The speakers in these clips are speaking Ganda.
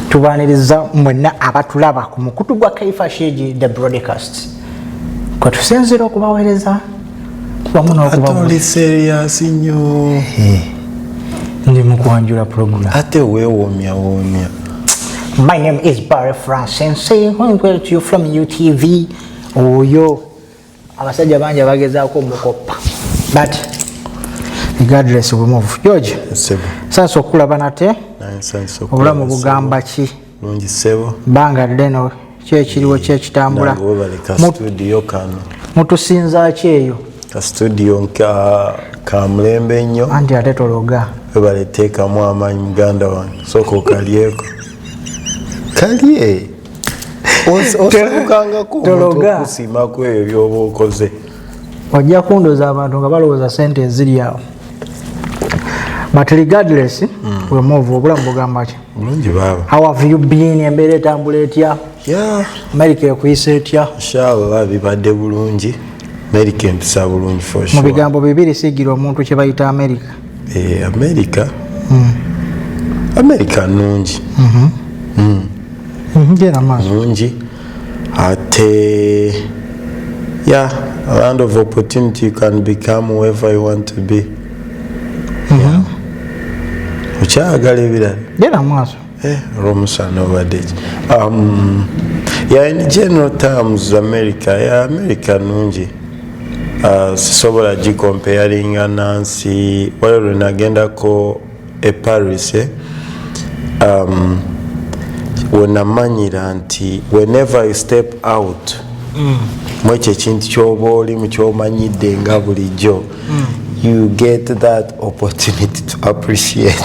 tubaniriza mwenna abatulaba ku mukutu gwa kaifa shegi the broadcast kwe tusinzira okubaweereza wamu n'okubaoli serious nnyo eh, ndi mu kwanjula puroguramu ate weewomya woomya my name is barry francis who is well to you from utv oyo oh, abasajja bangi abagezaako omukoppa but regardless we move george sasa okulaba nate obulamu bugamba ki lungi sebo banga ddeno kyekiriwo kyekitambula mutusinza ki eyo kastudio kamulembe ennyo anti ate tologa webaleteekamu amaanyi muganda wange sooka okalyeko kalye osabukangako okusiima ku ebyo byoba okoze ojja kundoza abantu nga balowooza sente eziri awo but regardless mm. we move obulamu bugamba ki bulungi baaba how have you been embeera etambula etya yeah. amerika ekuyisa etya inshallah bibadde bulungi amerika empisa bulungi for sure mu bigambo bibiri sigira omuntu kye bayita amerika eh, america mm. america nungi mm -hmm. mm. mm -hmm. nungi ate ya land of opportunity you can become whoever you want to be mm -hmm. yeah. okyayagala ebirala genda mu maaso Eh, olwomusaana obadde ki um, yani general terms america ya america nungi uh, sisobola gikompeyaringa nansi waliwo lwe nagendako e paris eh? um, wenamanyira nti whenever you step out mm. mwekyo ekintu kyoba oli mukyomanyidde nga bulijjo mm. you get that opportunity to appreciate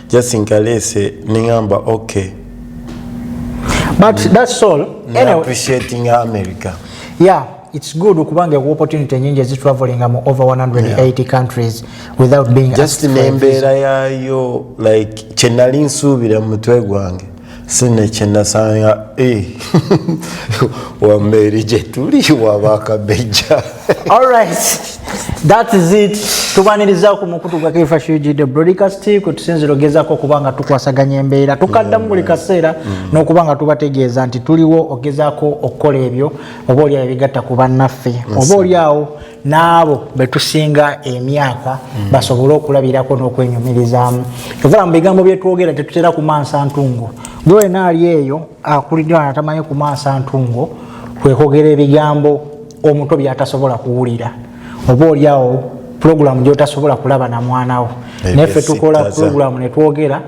just nkaleese nengamba okay but mm. that's all anyway. appreciating america yeah it's good okubanga ewa opportunity nyingi ezitravelinga mu over 180 yeah. countries without being just nembeera yaayo like kyenali nsuubira mu mutwe gwange sine kyenasanga eh. wameeri gyetuli wabakabejja alright that is it tubaniriza ku mukutu gwa kfhugd broadcast kwe tusinzira ogezako okuba nga tukwasaganya embeera tukaddamu buli kaseera mm. n'okuba nga tubategeeza nti tuliwo ogezako okukola ebyo oba oliawo ebigatta ku bannaffe oba oliawo n'abo betusinga emyaka hmm. basobole okulabirako n'okwenyumirizaamu evola mu bigambo byetwogera tetutera kumansa ntungo gwe wena ali eyo akuliddwa natamanyi kumansa ntungo kwekogera ebigambo omuto byatasobola kuwulira oba oliawo pulogulamu gyotasobola kulaba na mwanawo naye fe tukola pulogulamu netwogera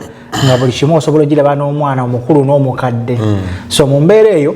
nga buli kimu osobola ogiraba n'omwana omukulu n'omukadde hmm. so mu mbeera eyo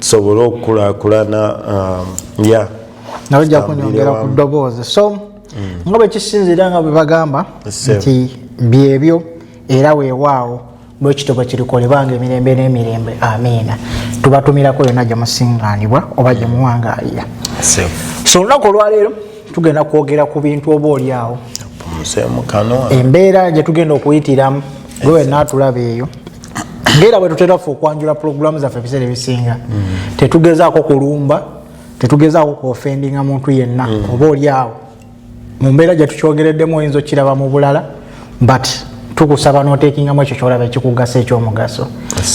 tusobole okukulakulana um, ya nawe ojja kunyongera ku ddoboozi so mm. nga bwekisinziira nga bwe bagamba nti byebyo era weewaawo bwekityo bwe kirikolebanga emirembe n'emirembe amiina tubatumirako yonna gye musingaanibwa oba gye muwangaalira so olunaku olwaleero tugenda kwogera ku bintu oba olyawo embeera gyetugenda okuyitiramu gwe wenna atulaba eyo ngaera bwe tutera ffe okwanjula pulogulaamu zaffe ebiseera ebisinga mm. tetugezaako kulumba tetugezaako kuofendinga muntu yenna mm. oba oli awo mu mbeera gye tukyogereddemu oyinza okukiraba mu bulala but tukusaba notekingamu ekyo kyolaba ekikugasa ekyomugaso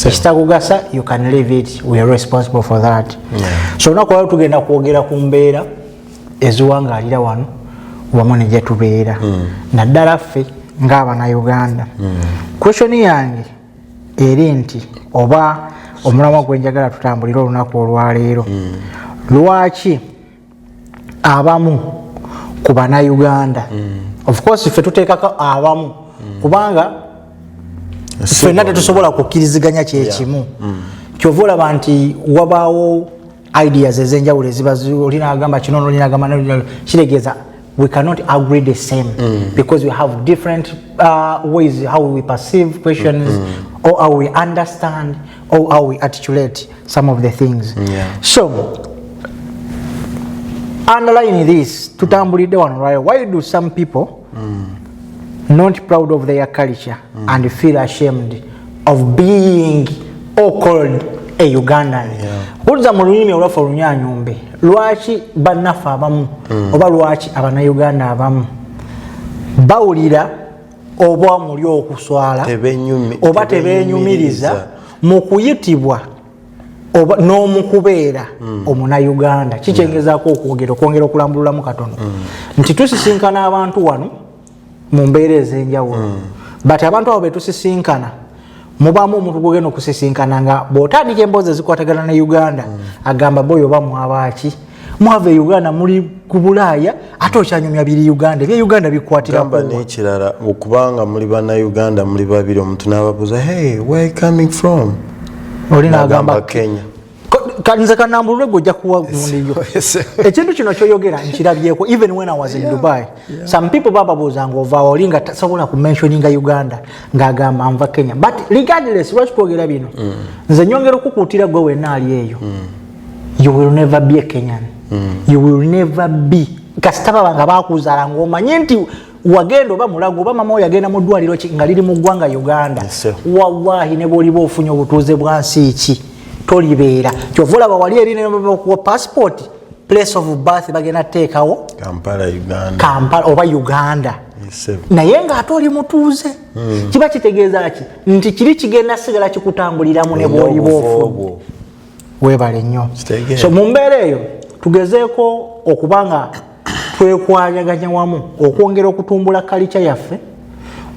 ekitakugasa you can leave it we are responsible for that so olunaku lwalo tugenda kwogera ku mbeera eziwangaalira wano wamu ne gyetubeera hmm. naddala ffe ng'abanauganda hmm. kwesioni yange eri nti oba omulamwa gwe njagala tutambulire olunaku olwaleero hmm. lwaki abamu ku banauganda ofcourse ffe tuteekako abamu kubanga ffenna tetusobola kukkiriziganya kyekimu kyova olaba nti wabaawo ideas ezenjawulo eziba olina agamba kino nolina agamba nolina kitegeeza we cannot agree the same mm. because we have different uh, ways how we perceive questions mm -hmm. or how we understand or how we articulate some of the things yeah. so underline this tutambulidde wano why do some people mm. not proud of their culture mm. and feel ashamed of being or called a ugandan wulza yeah. mu lulimi olwaffe olunyanyumbe lwaki bannaffe abamu mm. oba lwaki abanauganda abamu bawulira oba muli okuswala oba tebenyumiriza mu kuyitibwa oba n'omukubeera mm. omunayuganda kikyengezaako okwogera okwongera okulambululamu katono mm. nti tusisinkana abantu wano mu mbeera ez'enjawulo mm. but abantu abo betusisinkana mubamu omuntu gwogenda okusisinkana nga bwotandika emboozi ezikwatagana ne uganda mm. agamba boyo oba mwabaaki mm. mwava e uganda muli ku bulaaya ate okyanyumya biri uganda ebye uganda bikwatiraamba nekirala okubanga muli bana uganda muli babiri omuntu nababuuza hey where coming from oli nagamba kenya kanze kanambulule gwe ojja kuwa gundiyo ekintu kino kyoyogera nkirabyeko even when i was in dubai some people bababuuza nga ovaawo oli nga tasobola ku mentioninga uganda ng'agamba nva kenya but regardless lwaki twogera bino mm. nze nyongera okukuutira gwe wenna ali eyo mm. you will never be a kenyan mm. you will never be kasita baba nga bakuzaala ngaomanye nti wagenda oba mulago oba mama oyagenda mu ddwaliro nga liri mu ggwanga uganda yes, wallahi ne bwoliba ofunye obutuuze bwa nsi ki tolibeera kyova olaba wali eri nekuwa passport place of birth bagenda teekawo kampala oba uganda yes, naye ngaate oli mutuuze mm. kiba kitegeeza ki nti kiri kigenda sigala kikutambuliramu ne bwoliba ofunye webale nnyo so mu mbeera eyo tugezeeko okuba nga twekwayaganya wamu okwongera okutumbula kalica yaffe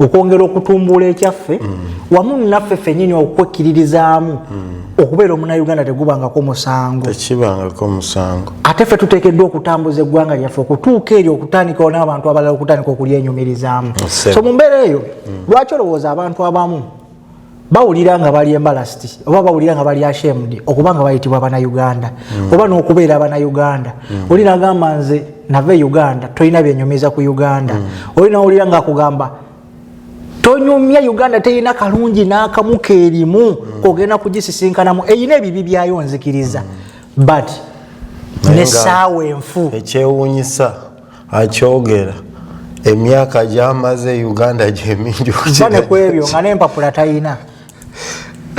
okwongera okutumbula ekyaffe mm. wamu naffe fenyini okwekkiririzaamu mm. okubeera omunauganda tegubangako musango tekibangako musango ate ffe tuteekeddwa okutambuza eggwanga lyaffe okutuuka eryo okutandikawo n'abantu abalala okutandika okulyenyumirizaamu so mu mbeera eyo mm. lwaki olowooza abantu abamu bawulira nga bali embalasiti oba bawulira nga bali ashemude okuba nga bayitibwa banauganda mm. oba n'okubeera abanauganda mm. oli nagamba nze nava e uganda tolina byenyumiza ku uganda mm. oli nawulira nga akugamba tonyumya uganda terina kalungi n'akamu keerimu mm. ogenda kugisisinkanamu erina ebibi byayo nzikiriza mm. but nesaawa enfu ekyewunyisa akyogera emyaka gyamaze e uganda gyemingi bane kwebyo nga nempapula tayina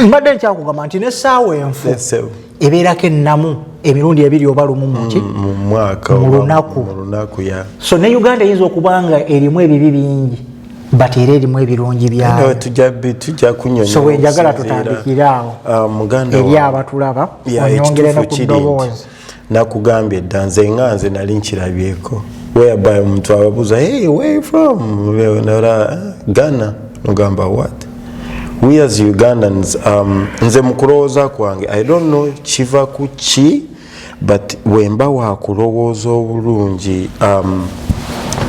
mbadde nkyakugamba nti nesaawa enfu ebeerako ennamu emirundi ebiri oba lumu muki mm, mulunaku so ne uganda eyinza okuba nga erimu ebibi bingi but era erimu ebirungi byayoso wenjagala tutandikire awo ah, eri abatulaba onyongereno ku ddoboozi nakugambye dda nze nga nze nali nkirabyeko whereby omuntu ababuuza hey where you from nara ghana nogamba what we as ugandans um, nze mukulowooza kwange i don't know kiva ku ki but wemba wakulowooza obulungi um,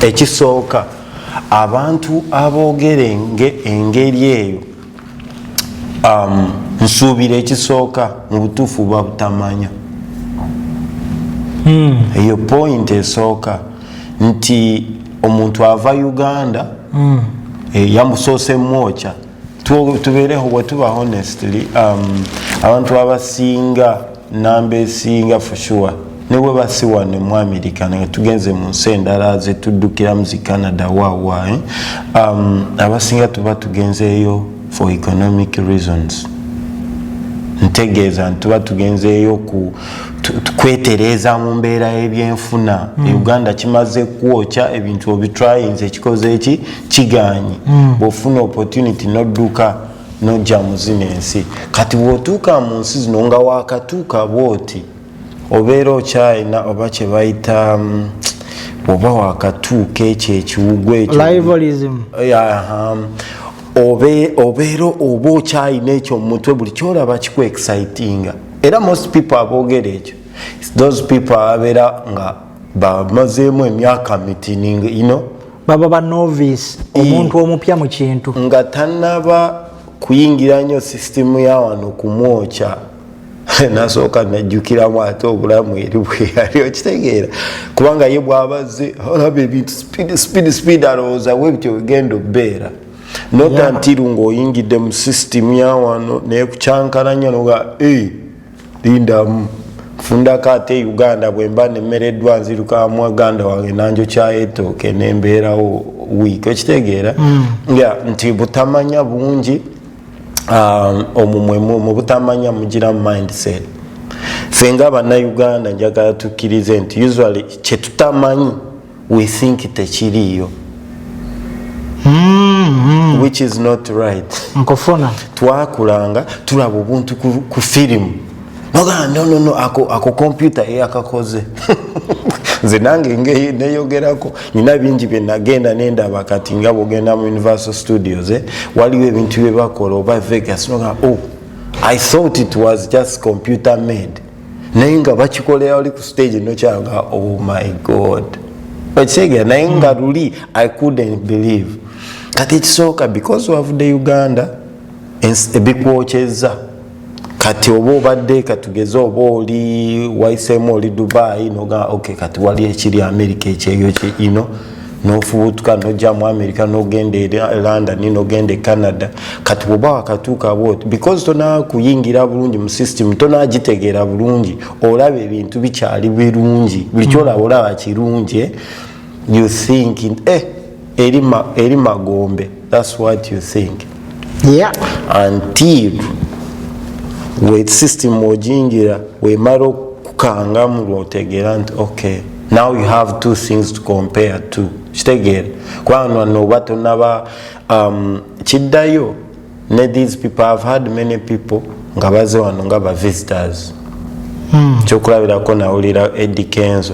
ekisooka abantu aboogere engeri eyo um, nsuubira ekisooka mu butuufu buba butamanya hmm. eyo mm. point esooka nti omuntu ava uganda mm. e, eh, yamusoose mwokya tubeereho bwetuba honestly um, abantu abasinga namba esinga for sure ne bwe basi wano mu america naye tugenze mu nsi endala zetuddukiramu zi canada wawa eh? um, abasinga tuba tugenzeeyo for economic reasons ntegeeza nti tuba tugenzeeyo ku kwetereeza mu mbeera y'ebyenfuna mm. uganda kimaze kwokya ebintu obitrayinza ekikoze eki kigaanyi mm. bw'ofuna opportunity nodduka no nojja muzina ensi kati bwotuuka mu nsi zino nga wakatuuka bwoti obeera okyalina oba kyebayita mm, oba wakatuuka ekyo ekiwugwa ekyobeera oba okyalina ekyo mumutwe buli kyolaba kiku excitinga era most people aboogera ekyo those people ababeera nga bamazeemu emyaka mitini ino baba ba novice omuntu omupya mu kintu nga tanaba kuyingira nnyo sisitemu ya wano kumwokya nasooka najjukiramu ate obulamu eri bweyali okitegeera kubanga ye bwabazze olaba ebintu speed speed speed alowooza we bityo bigenda obbeera nota ntiru ngaoyingidde mu system yawano nekucankalanya noga lindamu nfundako ate e uganda bwemba nemereddwa nziruka mwaganda wange nanjokyayetooke nembeerawo wiiki okitegeera mm. ya nti butamanya bungi um, omumwemu mu butamanya mugira mindset fenga bannayuganda njagala tukkirize nti usually kyetutamanyi we think tekiriiyo mm-hmm. which is not right nkufuna twakulanga tulaba obuntu ku firimu nogaa nonono ako, ako kompyuta eyakakoze nze nange neyogerako nina bingi byenagenda nendaba kati nga bwogenda mu universal studios eh? waliwo ebintu byebakola oba vegas nogaa oh, i thought it was just computer made naye nga bakikolera wali ku stage nokyanga oh my god okitegera naye nga hmm. luli i couldn't believe kati ekisooka because wavude uganda ebikwokyeza kati oba obadde katugeze oba oli waisemu oli dubai noga ok kati wali ekiri amerika ekyeyo ino nofubutuka noja mu america nogenda e london nogenda e canada kati bwoba wakatuuka bwoti because tonakuyingira bulungi mu system tonagitegeera bulungi olaba ebintu bikyali birungi buli kyolaba mm. olaba kirungi eh? you think eh, eri magombe thats what you think yeah. until we system ojingira wemala okukangamu lwotegeera nti okay now you have two things to compare to kitegeera kubanga noba tonaba um, kiddayo ne these people have had many people nga baze wano nga ba visitors hmm. kyokulabirako nawulira edikenzo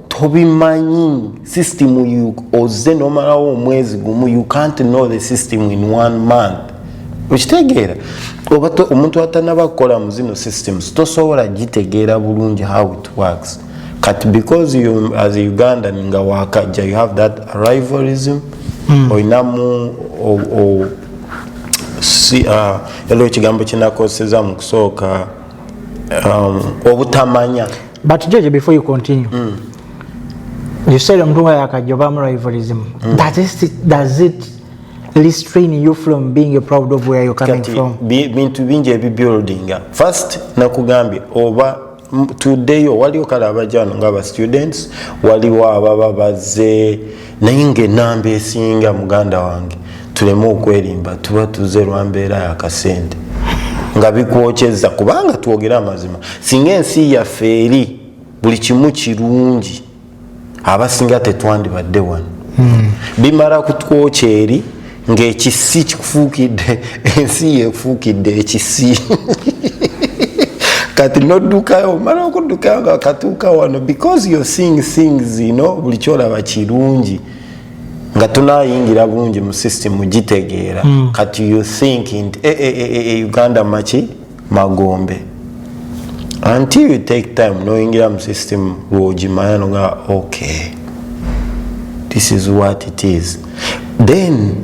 tobimanyi system you oze nomalawo omwezi gumu you can't know the system in one month okitegeera oba omuntu atanaba kukola mu zino systems tosobola gitegeera bulungi how it works kati because you as a ugandan nga wakajja you have that arrivalism mm. olinamu si uh, elo ekigambo kinakoseza mu kusooka um, obutamanya but jeje before you continue mm. you said omuntu nga yakajobamu rivalism mm. does, it, does it restrain you from being a proud of where you're coming Kati, from bintu bingi ebibuildinga first nakugambye oba tuddeyo waliwo kale abajano nga aba students waliwo ababa bazze naye nga enamba esinga muganda wange tuleme okwerimba tuba tuze lwambeera yakasente nga bikwokyeza kubanga twogere amazima singa ensi yaffe eri buli kimu kirungi abasinga tetwandibadde wano hmm. bimala kutwokya eri ng'ekisi kikufuukidde ensi yefuukidde ekisi kati noddukayo omala okuddukayo nga katuuka wano because you're seeing things you know buli kyolaba kirungi nga tunayingira bulungi mu system gitegeera mm. kati you thinking e, e, e, e, e, uganda maki magombe until you take time noyingira mu system lwogimanya noga okay this is what it is then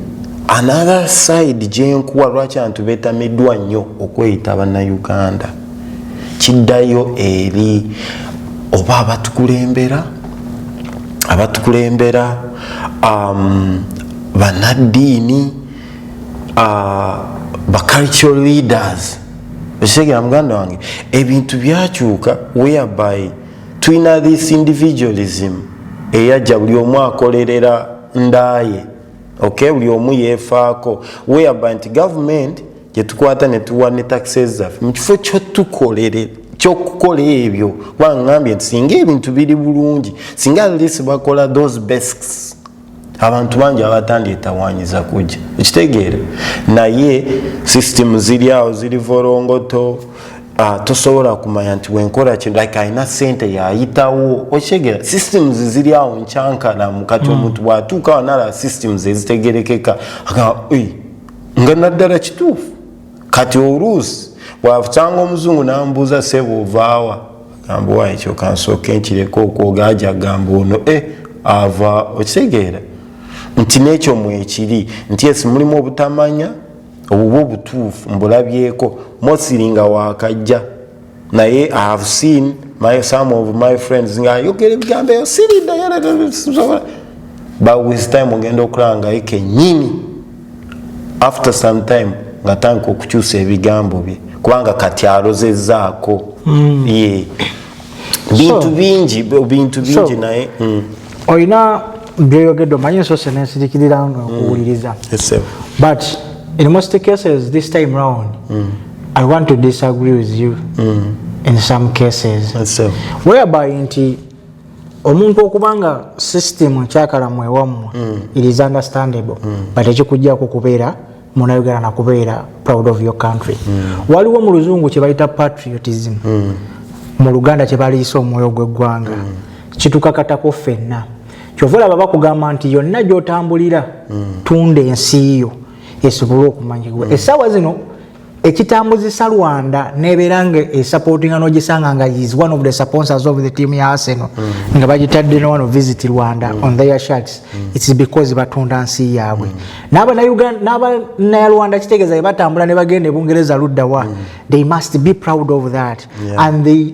another side gyenkuwa lwaki antu betamiddwa nnyo okweyita bannayuganda kiddayo eri oba abatukulembera abatukulembera um, banaddiini ah, ba cultural leaders okitegera muganda wange ebintu byakyuka whereby tulina this individualism eyajja buli omu akolerera ndaaye okay buli omu yefaako whereby nti government gyetukwata netuwa ne taxes zaffe mu kifo kyotukolere kyokukola ebyo kubanga ngambye nti singa ebintu biri bulungi singa lesi bakola those besks abantu bangi abatandyetawanyiza kujja ekitegeera naye system ziri awo ziri volongoto ah, tosobola kumanya nti wenkola kintu like alina sente yayitawo okitegera systems ziri awo nkyankalamu kati hmm. omuntu bwatuuka wanala systems ezitegerekeka nga naddala kituufu kati oluusi bwafutanga omuzungu nambuuza sebo ovaawa gamba wayi kyoka nsooka enkireka okwoga aja gamba ono e eh, ava okitegeera nti nekyo mwekiri nti esi mulimu obutamanya obuba obutuufu mbulabyeko mosiri nga wakajja naye i have seen my some of my friends nga yogera ebigambo eyo siridayasobola but with time ogenda okulanga ekenyini after some time nga tanka okukyusa ebigambo bye kubanga kati alozezaako mm. ye bintu bingi bintu bingi naye mm. olina byoyogedde omanyi ensose nensirikirira nga mm. nkuwuliriza but in most cases this time round mm. i want to disagree with you mm. in some cases whereby nti omuntu okuba nga system ekyakalamu ewammwe mm. it is understandable mm. but ekikujjako kubeera munayogera nakubeera proud of your country mm. waliwo mu luzungu kyebayita patriotism mm. mu luganda kyebaliyisa omwoyo gwegwanga mm. kitukakatako fenna kyova olaba bakugamba nti yonna gyotambulira mm. tunda ensi yo esobole okumanyibwa mm. esawa zino ekitambuzisa rwanda nebeera nga esupportinga nogisanga nga is one of the sponsors of the team ya arsenal mm. nga bagitadde nowano visit rwanda mm. on their shirts mm. its because batunda nsi yaabwe mm. n'abanayarwanda kitegeeza bebatambula ne bagenda ebungereza luddawa mm. they must be proud of that yeah. and they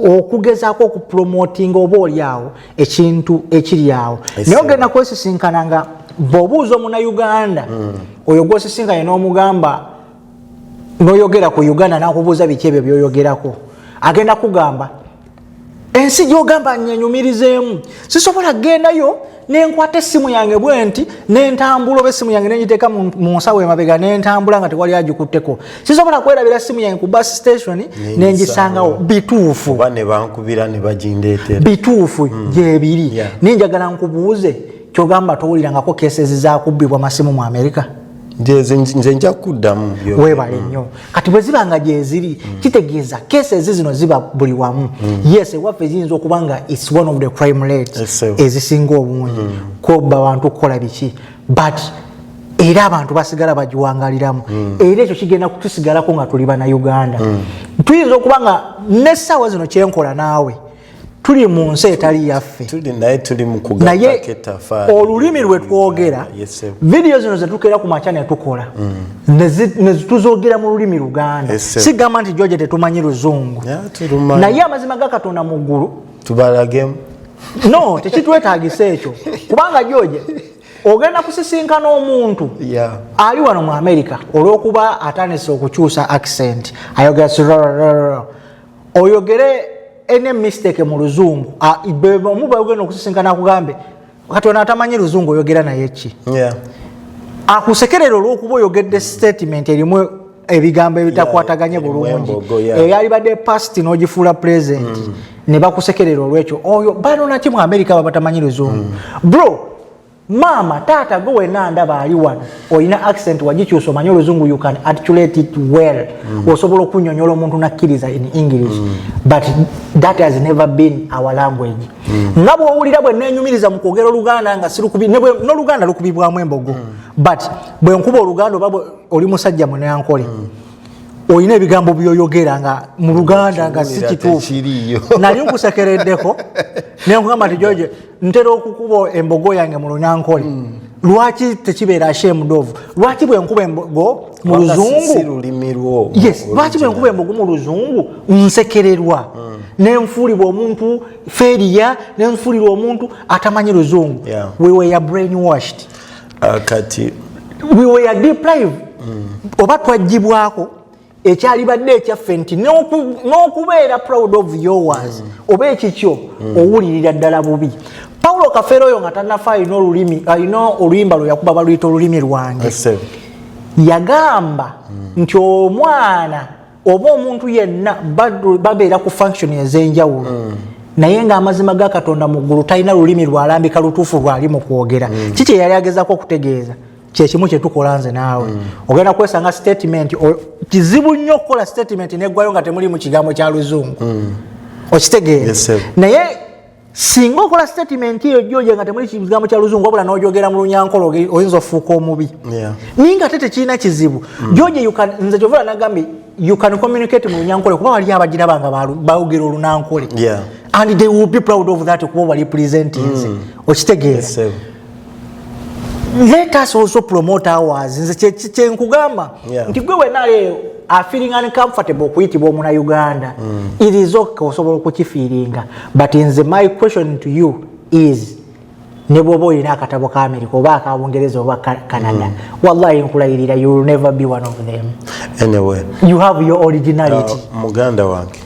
okugezaako okupromotinga oba oli awo ekintu ekiri awo naye ogenda kwesisinkana nga bwobuuza omunauganda mm. oyo gwosisinkanye n'omugamba noyogera ku uganda nakubuuza biki ebyo byoyogerako agenda kugamba ensi gyogamba nyenyumirizeemu sisobola kugendayo nenkwata essimu yange bwe nti nentambula oba essimu yange nengiteeka mu nsawo emabega nentambula nga tewali agikutteko sisobola kwerabira ssimu yange ku bus station nengisangawo bituufu bituufu hmm. gyebiri naye njagala nkubuuze kyogamba towulirangako kesezi zakubbibwa masimu mu amerika nze nja kuddamu webale nnyo mm. kati bwe ziba nga gyeziri mm. kitegeeza kesezi zino ziba buli wamu mm. yes ewaffe ziyinza okuba nga its one of the crime rate ezisinga obungi kobba bantu okukola biki but era abantu basigala bagiwangaliramu era ekyo kigenda kutusigalako nga tuli bana uganda tuyinza okuba nga nessaawa zino kyenkola naawe tuli mu nsi etali yaffe naye olulimi lwe twogera vidiyo zino zetukeera ku makya netukola mm. netuzogera mu lulimi luganda sigamba nti joje tetumanyi luzungu naye amazima ga katonda mu ggulu tubalagemu no tekitwetagisa ekyo kubanga joje ogenda kusisinkana omuntu ali wano mu amerika olwokuba atandise okukyusa accent ayogera oyogere any mistake mu luzungu ah, omu bagenda okusisinkana akugambe kati ono atamanyi luzungu oyogera naye ki akusekerera olwokuba oyogedde statement erimu ebigambo ebitakwataganye bulungi eyalibadde past nogifuula present mm. nebakusekerera olwekyo oyo banonaki mu amerika babatamanyi luzungu mm. bro maama taata gwe wena ndaba ali wano olina accent wagikyusa omanye oluzungu you can articulate it well mm. osobola okunyonyola omuntu nakkiriza in english mm. but that has never been our language mm. nga bwowulira bwe nenyumiriza mu kwogera oluganda nga noluganda lukubibwamu embogo mm. but bwe nkuba oluganda oba oli musajja muneankole mm. olina ebigambo byoyogera nga mu luganda nga si kituufu nali nkusekereddeko nenkugamba nti jojo ntera okukuba embogo yange mu lunankole mm. lwaki tekibeera ashemudovu lwaki bwenkuba embogo mu luzungu yes lwaki bwenkuba embogo mu luzungu nsekererwa mm. nenfuulibwa omuntu feriya nenfuulirwa omuntu atamanyi luzungu yeah. we were brain washed uh, kati we were deprived mm. oba twajjibwako ekyalibadde ekyaffe nti n'okubeera proud of yours mm. oba ekikyo mm. owulirira ddala bubi paulo kafeero oyo nga tanafa alina olulimi alina oluyimba lwe yakuba baluyita olulimi lwange yagamba mm. nti omwana oba omuntu yenna babeera ku function ez'enjawulo mm. naye nga amazima ga katonda mu ggulu talina lulimi lwalambika lutuufu lwali mu kwogera mm. kiki eyali agezako okutegeeza kyekimu kyetukola nze naawe mm. ogenda kwesanga statement kizibu nnyo okukola statement negwayo nga temuli mu kigambo kya luzungu mm. okitegeera yes, naye singa okola statement eyo joja nga temuli kigambo kya luzungu wabula nojogera mu lunyankolo oyinza ofuuka omubi yeah. naye nga te tekirina kizibu mm. joja nze kyovula nagambye you can communicate mu lunyankole kuba wali abajira banga baogera olunankole yeah. and they will be proud of that kuba wali presentinze mm. okitegeera yes, let us also promote ours nze kyenkugamba nti gwe wenaleeyo afeeling uncomfortable okuyitibwa omuna uganda mm. it is ok osobola okukifiiringa but nze my question to you is ne bwoba olina akatabo ka america oba aka bungereza oba canada mm. wallahi nkulayirira you will never be one of them anyway you have your originality uh, muganda wange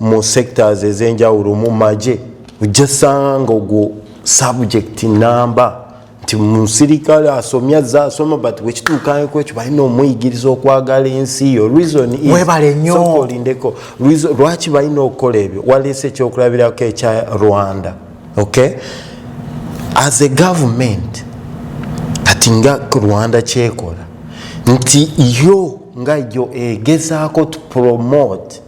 mu sectors ezenjawulo mu maje ojja sanga ogwo subject namba nti musirikale asomye azze asoma but wekituukaeko ekyo balina omuyigiriza okwagala ensi yo reasonwebale nyo olindeko lwaki balina okukola ebyo waleese ekyokulabirako ekya rwanda okay as a government kati nga rwanda kyekola nti yo nga yo egezaako to promote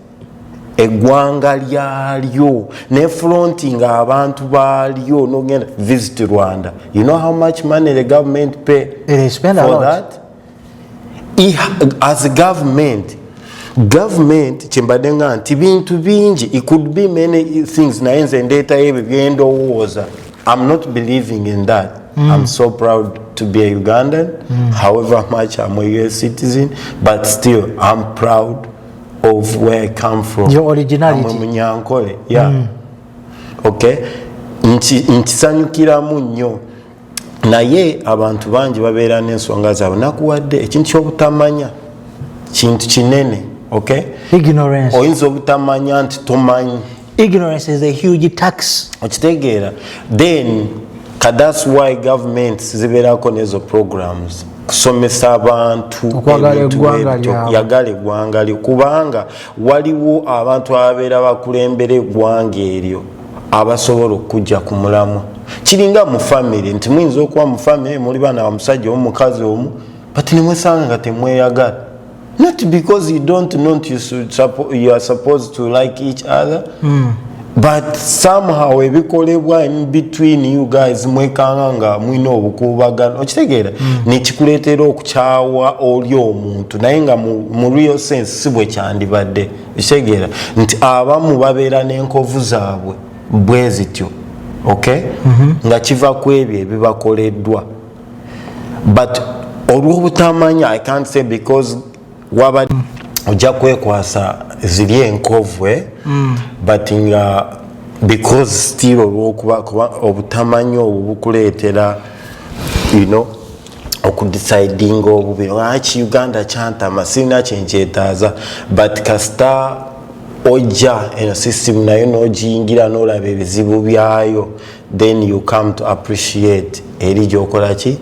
eggwanga lyalyo ne fronti nga abantu balyo nogenda visit rwanda you know how much money the government pay for that as a government government kyembadde nga nti bintu bingi it could be many things naye nze ndeetayo ebyo byendowooza i'm not believing in that mm. i'm so proud to be a ugandan mm. however much i'm a us citizen but still i'm proud of where I come from. Your originality. I'm a Munyankole. Yeah. Mm. Okay. nkisanyukiramu nnyo naye abantu bangi babeera n'ensonga zaabwe nakuwadde ekintu kyobutamanya kintu kinene oyinza obutamanya nti tomanyi ignorance is a huge tax okitegeera then that's why government zibeerako nezo programs kusomesa abantu yagala eggwanga lyo kubanga waliwo abantu ababeera bakulembera eggwanga eryo abasobola okujja ku mulamwa kiringa mu famiry nti muyinza okuba mu famiry muli baana bamusajja omukazi omu but nemwesanga nga temweyagala not because you don't know you, suppo you are supposed to like each other mm. but somehow ebikolebwa in between you guys mwekanga nga mwina obukuubagano okitegeera mm. nekikuleetera okukyawa oli omuntu naye nga mu, mu real sense si bwe kyandibadde okitegeera nti abamu babeera n'enkovu zaabwe bwe zityo okay mm -hmm. nga kiva ku ebyo ebibakoleddwa but olwobutamanya i can't say because waba ojja kwekwasa ziri enkovu eh? mm. but nga because still olwokuba obutamanya obwo bukuleetera you know okudecidinga obubi lwaki uganda kyantama sirina kyenkyetaaza but kasita ojja eno system nayo nogiyingira nolaba ebizibu byayo then you come to appreciate eri gyokola ki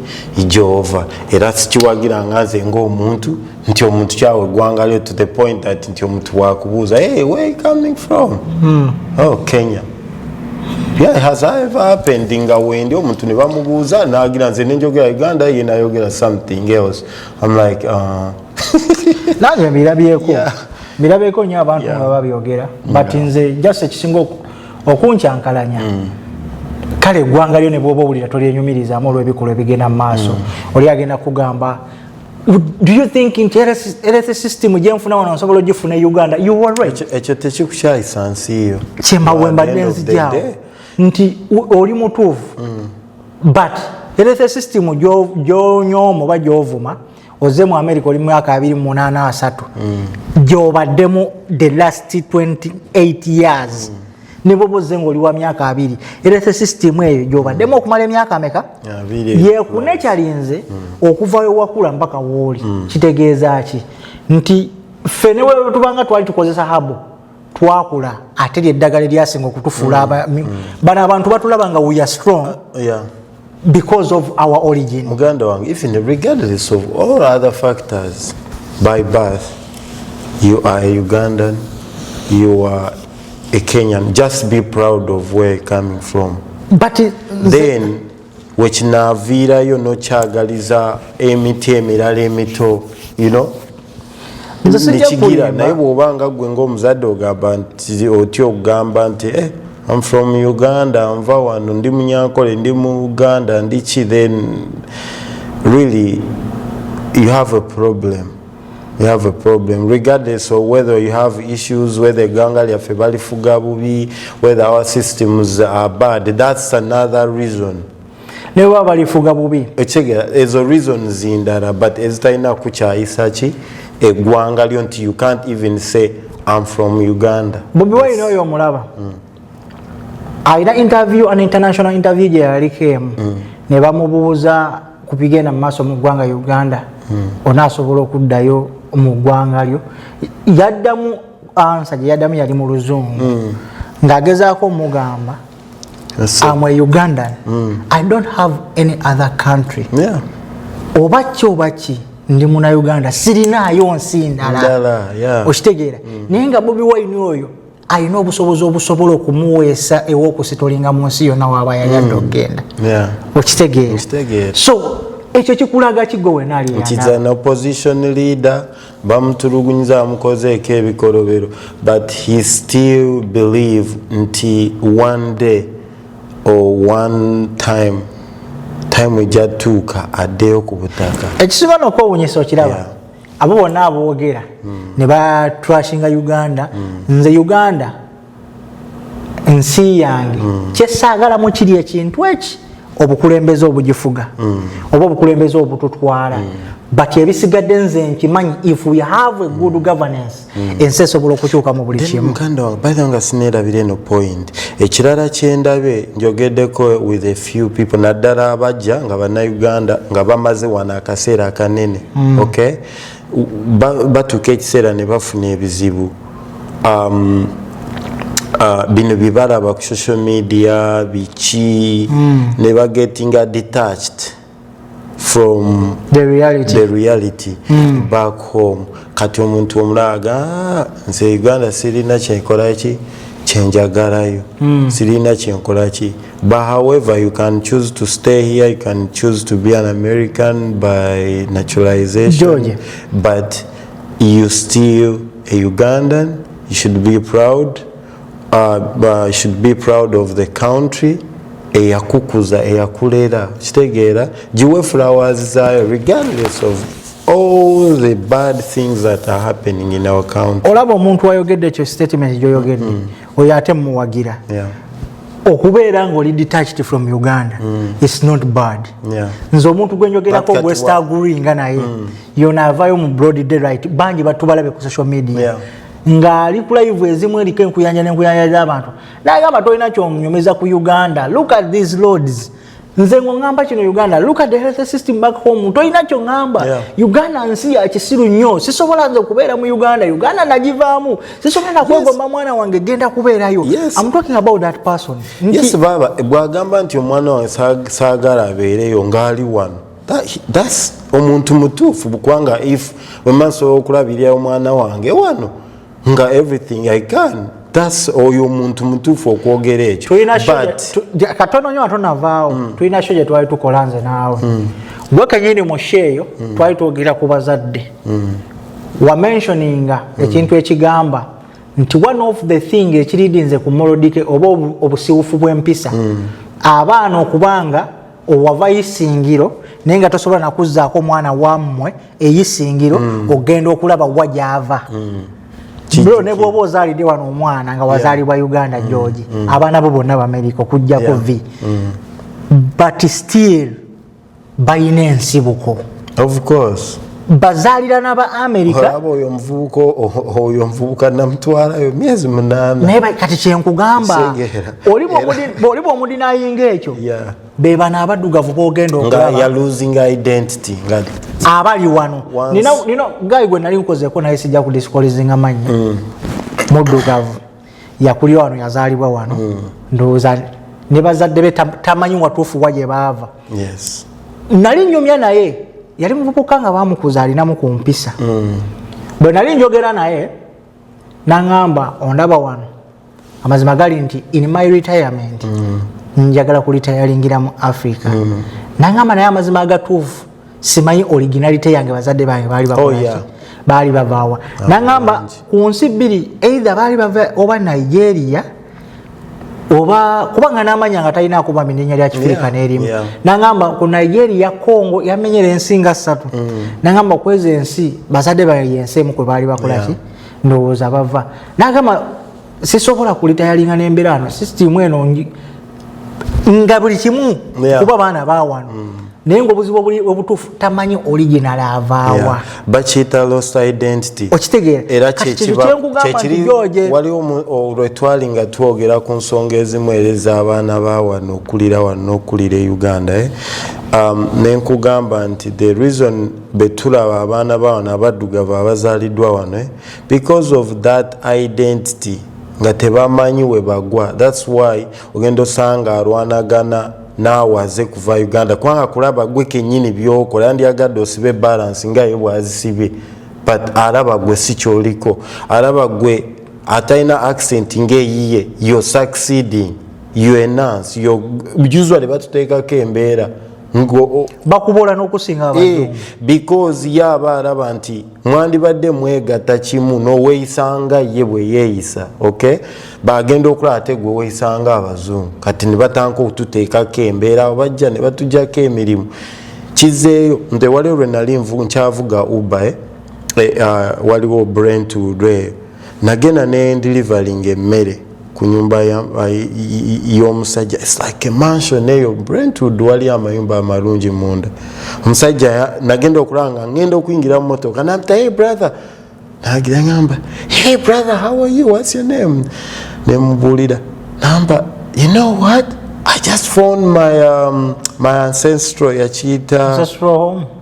gyova era sikiwagira nga nze ngaomuntu nti omuntu kyawe eggwanga lyo to the point that nti omuntu wakubuuza hey, where coming from mm. oh, kenya yeah, has ever happened nga wendi omuntu ne bamubuuza nagira nze nenjogera uganda ye nayogera something else im like uh... nange mbirabyeko mbirabyeko nyo abantu nga babyogera but nze just ekisinga okuncankalanya mm. kale eggwanga lyo ne bwoba owulira tolyenyumirizamu olw'ebikolwa ebigenda mu maaso mm. oli agenda kugamba do you think nti health system gyenfuna wano nsobola ogifuna e uganda you were right ekyo tekikukyayisa nsi yo kyembawembadde nzijawo nti oli mutuufu mm. but health system gyonyooma oba gyovuma oze mu america oli mwaka abiri munaana asatu mm. gyobaddemu the last 28 years mm. neboba oze ngaoli wa myaka abiri era the system eyo gyobaddemu mm. okumala emyaka meka yekune kyalinze mm. okuvayo wakula mpaka wooli mm. kitegeeza ki nti ffe newetubanga twali tukozesa habo twakula ate lyeddagala eryasinga okutufuula mm. mm. bano abantu batulaba nga we are strong uh, yeah. because of our origin muganda wange even regardless of all other factors by birth you are a ugandan you are a kenyan just be proud of where coming from but uh, then wekinaaviirayo nokyagaliza emiti emirala emito you know nekigira naye bwoba nga gwe ngaomuzadde ogamba nti otya okugamba nti eh, I'm from Uganda nva wano ndi munyankole ndi mu Uganda ndi ki then really you have a problem you have a problem regardless of whether you have issues whether eganga lyaffe balifuga bubi whether our systems are bad that's another reason newa balifuga bubi ekyegera ezo reasons ndala but ezitalina kukyayisa ki egwanga lyo nti you can't even say am from uganda bobi wine oyo omulaba mm. alina interview an international interview gye yaliko emu mm. ne bamubuuza ku bigenda mu maaso mu ggwanga uganda mm. onaasobola okuddayo mu ggwanga lyo yaddamu ansa gye yaddamu yali mu luzungu mm. ng'agezaako omugamba am a ugandan mm. i don't have any other country yeah. oba ki oba ki ndi muna uganda sirinaayo nsi ndala okitegeera mm. naye nga bobi wine oyo alina obusobozi obusobola okumuweesa ewokusitolinga mu nsi yonna waaba yayadde hmm. okugenda okitegeera so ekyo kikulaga kigo wenaaliopposition leader bamutulugunyiza amukozeeko ebikolobero but he still believe nti one day or one time time ejatuuka addeyo ku butaka ekisinga nokwewunyisa okiraba yeah. abo bonna aboogera hmm. ne batrashinga uganda hmm. nze uganda nsi yange hmm. kyesaagalamu kiri ekintu eki obukulembeze obugifuga oba obukulembeze obututwala but ebisigadde nze nkimanyi if we have a good governance mm. ensi esobola okukyuka mu buli kimu muganda wange by the way nga sineerabira eno point ekirala kyendabe njogeddeko with a few people naddala abajja nga bannayuganda nga bamaze wano akaseera akanene mm. okay batuuka ekiseera ne bafuna ebizibu um, uh, bino byebalaba ku social media biki mm. ne bagetinga detached from the reality, the reality mm. back home kati omuntu omulaaga ah, nze uganda sirina kyenkolaki kyenjagalayo mm. sirina kyenkolaki but however you can choose to stay here you can choose to be an american by naturalization George. but you still a ugandan you should be proud uh, uh, should be proud of the country eyakukuza eyakulera kitegeera giwe flowers zayo regardless of all the bad things that are happening in our country olaba omuntu ayogedde ekyo statement gyoyogedde mm. oyo ate mumuwagira yeah. okubeera nga oli detached from uganda mm. is not bad yeah. nze omuntu gwenjogerako west agri nga naye mm. yona avayo mu broad day right bangi batubalabe ku social media yeah. ng'ali ku live ezimu eriko enkuyanja n'enkuyanja z'abantu n'agamba tolina kyonyumeza ku uganda look at these loads nze ng'oŋŋamba kino uganda look at the health system back home tolina kyoŋŋamba yeah. uganda nsi ya kisiru nnyo sisobola nze okubeera mu uganda uganda nagivaamu sisobola nakwegomba yes. mwana wange genda kubeerayo yes. am talking about that person yes, baba bwagamba nti omwana wange saagala abeereyo ng'ali wano thats omuntu mutuufu bukwanga if wemasobola okulabirira omwana wange wano nga everything i can thats oyo omuntu mutuufu okwogera ekyo katono nyo atonavaawo mm. tulina sho gyetwali tukola nze naawe mm. gwe kenyini mushe eyo mm. twali twogera ku bazadde wamentioninga ekintu ekigamba nti one of the thing ekiridinze ku molodike oba obusiwufu bwempisa abaana okubanga owava isingiro naye nga tosobola nakuzzaako omwana wammwe eyisingiro mm. ogenda okulaba wa gyava mm. bro ne bwoba ozaalidde wano omwana nga wazaalibwa uganda mm. georgi abaana bo bonna bamerika okujjako vi but still balina ensibuko bazaalirana ba amerika aba oyo omuvubuka oyo omuvubuka namutwalayo myezi munaana naye kati kyenkugamba oli bwomudinayinga ekyo bebano abaddugavu bogenda abali wano nina gayi gwe nali nkozeko naye sijja kudiscolizinga mannya mm. muddugavu yakulira wano yazaalibwa wano mm. ndowooza ne bazadde be tamanyi watuufu wa gye baava nali nyumya naye yali muvubuka nga bamukuza alinamu ku mpisa mm. bwe nali njogera naye naŋamba ondaba wano amazima gali nti in my retirement mm. njagala kulitayalingira mu africa naŋamba naye amazima agatuufu simanyi originality yange bazadde bange baali bakolaki oh, yeah. baali bavaawa ah, nangamba ku nsi bbiri either baali bava oba nigeria oba kubanga namanya nga talina akuba minenya lya kifirika nerimu nangamba ku nigeria congo yamenyera ensi nga ssatu mm. nangamba kwezo ensi bazadde baye ensi emu kwe baali bakolaki ndowooza bava nagamba sisobola kulitayalinga nembera ano system eno nga buli kimu kuba baana bawano mm. naye nga obuzibu obutuufu tamanyi original avaawa bakiyita lost identity okitegeera waliwo olwetwali nga twogera ku nsonga ezimu era ez'abaana bawano okulira wano n'okulira e uganda eh? um, nenkugamba nti the reason betulaba abaana bawano abaddugavu abazaaliddwa wano eh? because of that identity nga tebamanyi webagwa thats why ogenda osanga alwanagana naawe aze kuva uganda kubanga kulaba gwe kenyini byokola yandyagadde osibe balance nga ye bwazisibe but alaba gwe si kyoliko alaba gwe atalina accent ngaeyiye yo succeeding yo enance yo usually batuteekako embeera bakubola nokusinga eh, because ye aba araba nti mwandibadde mwegata kimu noweyisanga ye bweyeyisa ok bagenda okulaba ate gwe weyisanga abazungu kati nibatanka okututeekako embeera bajja nebatujako emirimu kizeeyo nti wali olwe nali nkyavuga uba eh? eh, ah, waliwo brent lwe nagenda nendilivalinga emmere kunyumba yomusajja its like a mansion eyo brentwood wali amayumba amalungi munda omusajja nagenda okulaba nga ngenda okuyingira mumotoka nabita hey brother nagira ngamba hey brother how are you whats your name nemubuulira namba you know what i just found my, um, my ancestral yakiyita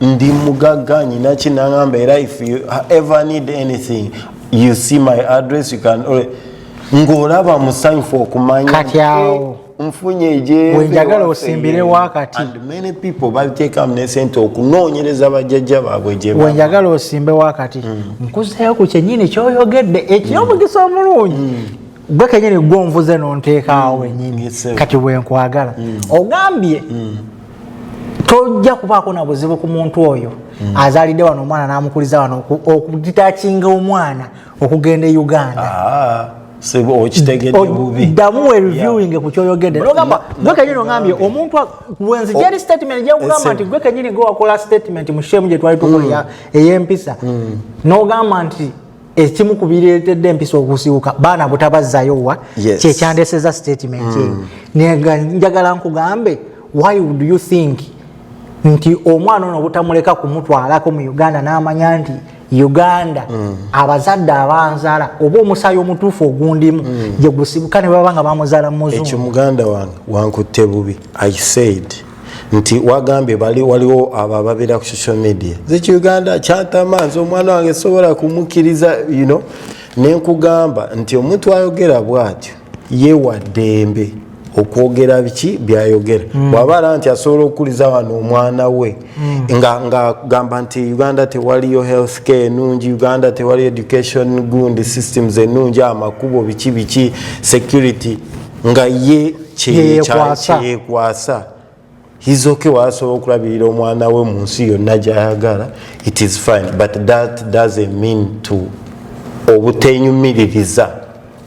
ndi mugagga nyina ki nangamba era if you ever need anything you see my address you can ng'olaba musanyufu okumanya kati awo nfunye ejewenjagala osimbire wakati babiteekamu nesente okunoonyereza bajjajja baabwe gyewenjagala osimbe wakati mm. nkuzeeyo ku kyenyini kyoyogedde ekyomugisa mm. omulungi mm. gwe kenyini gwe onvuze nonteekaawo wenyini kati wenkwagala ogambye tojja kubaako na buzibu ku muntu oyo mm. azaalidde wano omwana n'amukuliza wano okugitakinga omwana okugenda e uganda ah, ddamu wereviewing ku kyoyogedde nogamba gwe kenyini ongambye omuntu wenzija eri statement gyakugamba nti gwe kenyini gwe wakola statement mu shemu gye twali tukola mm. ey'empisa mm. nogamba nti ekimu ku bireetedde empisa okusiwuka baana butabazzayo wa yes. kyekyandeseza statement eyo mm. nega njagala nkugambe why would you think nti omwana ono obutamuleka kumutwalako mu uganda n'amanya nti uganda mm. abazadde abanzala oba omusaayi omutuufu ogundimu mm. gye gusibuka ne baba nga bamuzala muzungu ekyo muganda wange wankutte bubi i said nti wagambye bali waliwo abo ababeera ku social media zeki uganda kyatama nze omwana wange sobola kumukkiriza you know nenkugamba nti omuntu ayogera bwatyo yewaddembe okwogera biki byayogera mm. bwaba ara nti asobola okukuliza wano omwana we mm. nga ngagamba nti uganda tewaliyo health care enungi uganda tewaliyo education gund systems enungi amakubo biki biki security nga ye kyeyekwasa hizoke wasobola okulabirira omwana we mu nsi yonna gyayagala it is fine but that doesn't mean to obutenyumiririza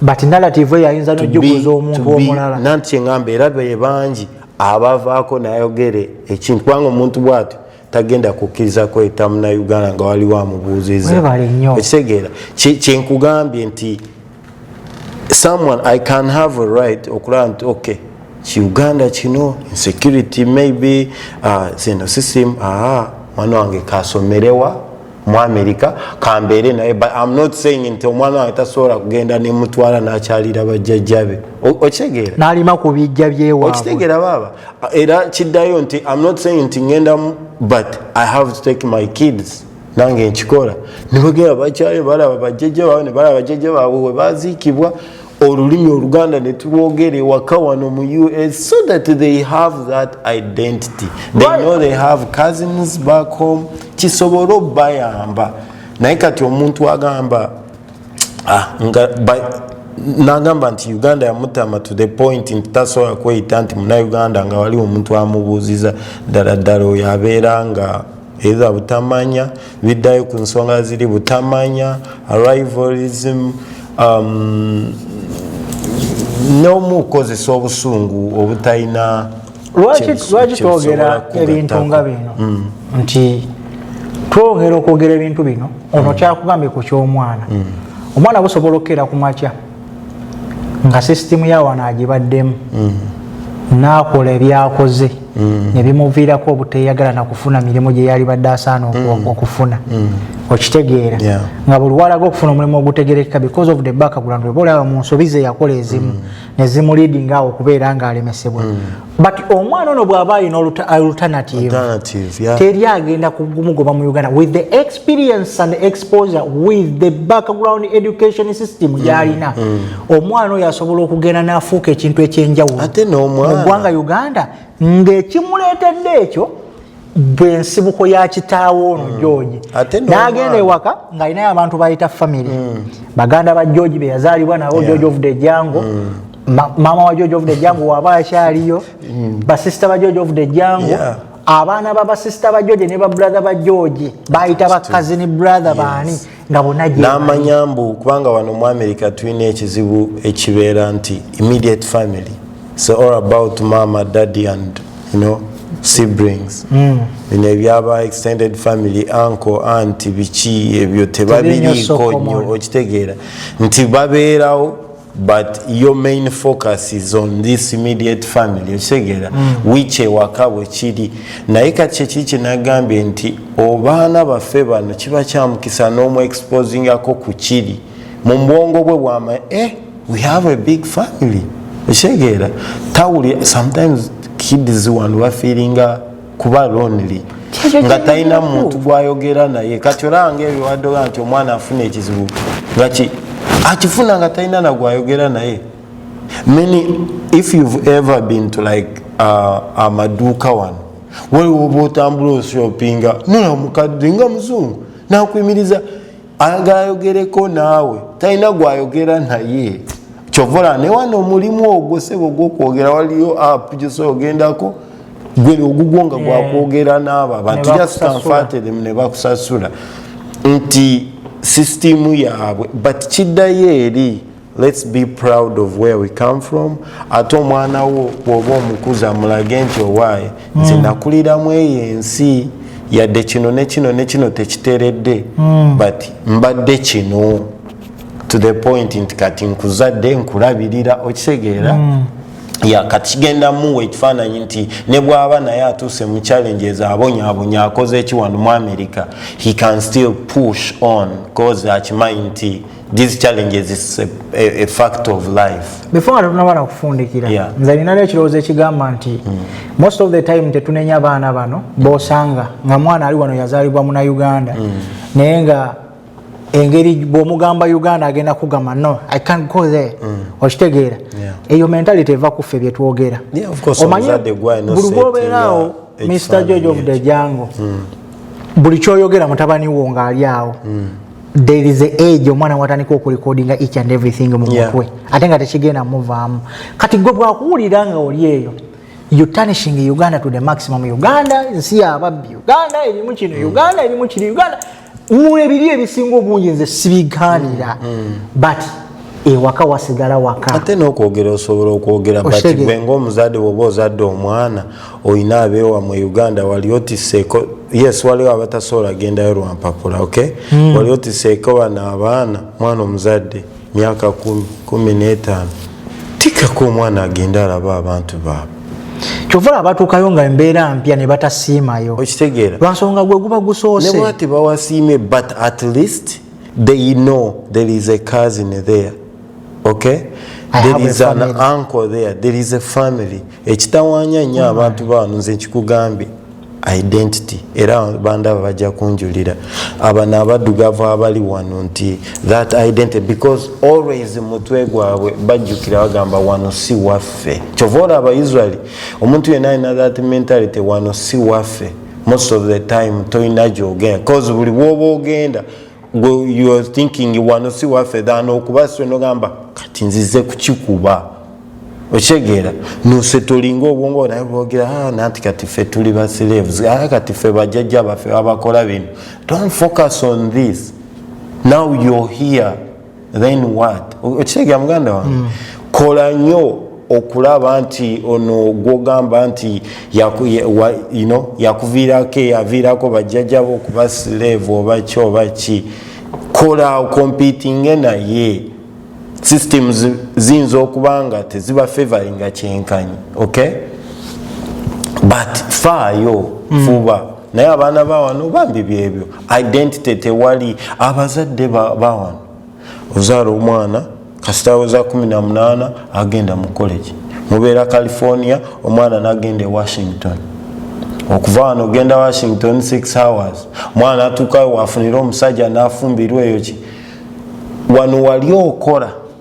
but narrative eyo ayinza nojukuza omuntu omulala nanti kyeŋamba era be bangi abavaako nayogere ekintu kubanga omuntu bwatyo tagenda kukkiriza kweta munauganda nga waliwo amubuuziza ekitegeera kyenkugambye nti someone i can have a right okulaba nti okay kiuganda kino insecurity maybe uh, zino system aa ah, mwana wange kasomerewa mu america kambeere naye but im not saying nti omwana wange tasobola kugenda nemutwala nakyalira bajjajjabe okitegeera nalima ku bijja byewa okitegeera baaba era kiddayo nti im not saying nti ngenda but i have to take my kids nange nkikola nebagera bakyayo balaba bajjajja bawe nebalaba bajjajja baabwe webaziikibwa olulimi oluganda netulwogera ewaka wano mu us so that they have that identity they know they have cousins back home kisobole obayamba naye kati omuntu agamba ah, nga nagamba nti uganda yamutama to the point nti tasobola kweyita nti munauganda nga wali omuntu amubuuziza ddala ddala oyo abeera nga either butamanya biddayo ku nsonga ziri butamanya arrivalism um, n'omu kukozesa obusungu obutalina lwaki twogera ebintu nga bino mm. nti twogera okwogera ebintu bino ono mm. kyakugambye ku ky'omwana mm. omwana busobola okukeera ku makya nga sisitimu yawano agibaddemu mm. naakola ebyakoze mm. nebimuviirako obuteyagala nakufuna mirimu gyeyali badde asaana mm. okufuna okitegeera nga buli walaga okufuna omulimu ogutegerekeka because of the background oba olaba mu nsobi zeyakola ezimu nezimuliidinga awo okubeera nga alemesebwa but omwana ono bwaba ayina oluternativeteri agenda kugumugoba mu uganda with the experience and exposure with the background education system mm, gyalina mm. omwana oyo asobola okugenda nafuuka ekintu ekyenjawulo mugwanga uganda ngaekimuleetedde ekyo bwe nsibuko ya kitaawo ono mm. george n'agenda ewaka ng'alinayo abantu bayita famiry mm. baganda ba george be yazaalibwa nabo george of the jango mm. maama wa george of the jango waba akyaliyo basisita ba george of the jango abaana ba basisita ba george ne babrother ba george bayita bakazini brother baani nga bona namanya mbu kubanga wano mu america tulina ekizibu ekibeera nti immediate family so all about mama daddy and you know siblings mm. bino ebyaba extended family anko anti biki ebyo tebabiriiko nyo okitegeera nti babeerawo but your main focus is on this immediate family okitegera mm. which ewaka bwe kiri naye kati kyeki kyenagambye nti obaana baffe bano kiba kyamukisa n'omu exposingako ku kiri mu bwongo bwe bwama e eh, we have a big family okitegera tawuli sometimes kids wano bafeelinga kuba lonely nga talina muntu gwayogera naye kati olanga ebyo wadoga nti omwana afuna ekizibu ngaki akifuna nga talina nagwayogera naye many if you've ever been to like uh, amaduuka wano waliwo oba otambula oshoppinga nola mukadde nga muzungu nakuyimiriza ayagala ayogereko naawe talina gwayogera naye kyovola newano omulimu ogwo sebo gwokwogera waliyo app gyosobola ogendako gwe ogugwo nga gwakwogera naabo abantu jastanfatirem ne bakusasula nti sisitimu yaabwe but kiddayo eri Let's be proud of where we come from ate omwana wo bwoba omukuza mulage nti owaaye nze hmm. nakuliramu eyo ensi yadde kino nekino nekino tekiteredde hmm. but mbadde kino to the point nti kati nkuzadde nkulabirira okitegeera hmm. ya kati kigenda muwa ekifaananyi nti ne bwaba naye atuuse mu challenges abonyabonya akoze ekiwandu mu america he can still push on cause akimanyi nti these challenges is a, a, a fact of life before nga tetunaba na kufundikira yeah. nze ninayo ekirowoozo ekigamba nti mm. most of the time tetunenya abaana bano bosanga nga mwana ali wano yazalibwa muna uganda mm. naye nga engeri bwomugamba uganda agenda kugamba no i can't go there mm. okitegeera yeah. eyo mentality eva kuffe byetwogera yeah, omanyi buli bwobeeraawo mr george of the jango mm. buli kyoyogera mutabani wo ngaali awo mm. there is a age omwana watandika okurecordinga each and everything mu mutwe yeah. ate nga tekigenda muvaamu kati gwe bwakuwulira nga oli eyo you tanishing uganda to the maximum uganda nsi yababbi uganda erimu kino mm. uganda erimu kiri uganda mwebiri ebisinga obungi nze sibiganira mm. mm. but ewaka wasigala waka ate nokwogera osobola okwogera but gwe ngaomuzadde woba ozadde omwana oyina abewa mu uganda wali otiseeko yes waliwo abatasobola gendayo lwampapula ok mm. wali otiseeko bano abaana mwana omuzadde myaka kumi n'etaano tikako omwana agende alaba abantu baabwe kyovala abatuukayo nga embeera mpya ne batasiimayo okitegeera lwansonga gwe guba gusoose ne bwati bawasiimye but at least they know there is a cousin there okay there is an uncle there there is a family ekitawanya nnyo mm. abantu baano nze nkikugambye identity era bandaba bajja kunjulira abano abaddugavu abali wano nti that identity because always mutwe gwabwe bajjukira bagamba wano si waffe kyova ola abaisraeli omuntu yena alina that mentality wano si waffe most of the time tolina gyogenda bcause buli bwoba ogenda gwe you are thinking wano si waffe than okuba swe nogamba kati nzize kukikuba okyegeera nose tolinga obwongo naye bwogera ah, nanti kati fe tuli basleves ah, kati fe bajajja baffe babakola bino don't focus on this now you're here then what okitegera muganda wange mm. kola nyo okulaba nti ono gwogamba nti yakuviirako eyaviirako bajjajabo okuba slave oba ki oba ki kola okompitinge naye systems ziyinza okuba nga teziba favoringa kyenkanyi okay but faayo mm. fuba naye abaana bawano bambi byebyo identity tewali abazadde bawano ozaala omwana kasitaweza 18 agenda mu college mubeera california omwana nagenda e washington okuva wano ogenda washington 6 hours mwana atuukayo wafunire omusajja nafumbirwa eyo ki wano wali okola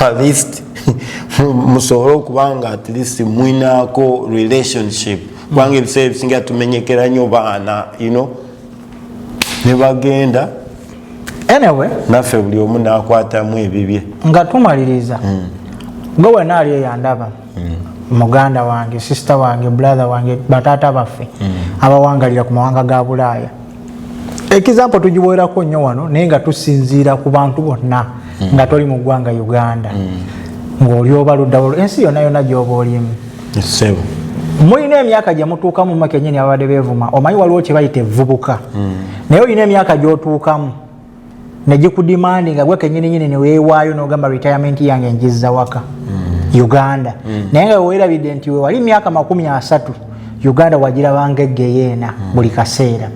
at least musobole okuba nga at least mwinaako relationship kubanga mm. ebiseera ebisinga tumenyekera nyo baana you know nebagenda anyway naffe buli omu nakwatamu ebibye nga tumaliriza mm. gwe wenaali eyandaba mm. muganda wange sisita wange brother wange bataata baffe mm. abawangalira ku mawanga ga bulaaya ekizampo tugiwerako nnyo wano naye nga tusinziira ku bantu bonna mm. nga toli mu ggwanga uganda ngaoli oba luddawo ensi yonna yonna gyoba olimu mulina emyaka gyemutuukamu makenyini ababadde bevuma omanyi waliwo kyebayita evubuka naye olina emyaka gyotuukamu negikudimandi nga gwe kenyininyini newewaayo nogamba retirement yange njizza waka mm. uganda mm. naye nga wewerabidde nti wewali myaka makumi asatu uganda wagirabanga egeyeena mm. buli kaseera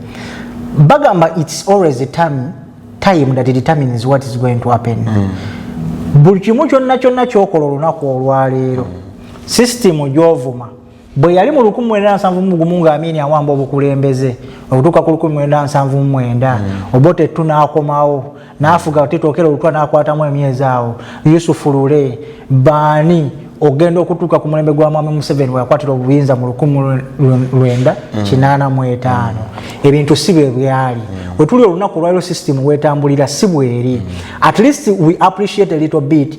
bagamba its always a time, time that determines what is going to happen mm. buli kimu kyonna kyonna kyokola olunaku olwaleero mm. system gyovuma bwe yali mu 1979 nga amini awamba obukulembeze okutuuka ku 1979 hmm. obote tu n'akomawo n'afuga tetookera olutwa n'akwatamu emyezi awo yusufu lule baani ogenda okutuuka ku mulembe gwa mwami museveni weyakwatira obuyinza mu 1985 hmm. ebintu si bwe byali hmm. wetuli olunaku olwaliro system wetambulira si bweri at least we appreciate a little bit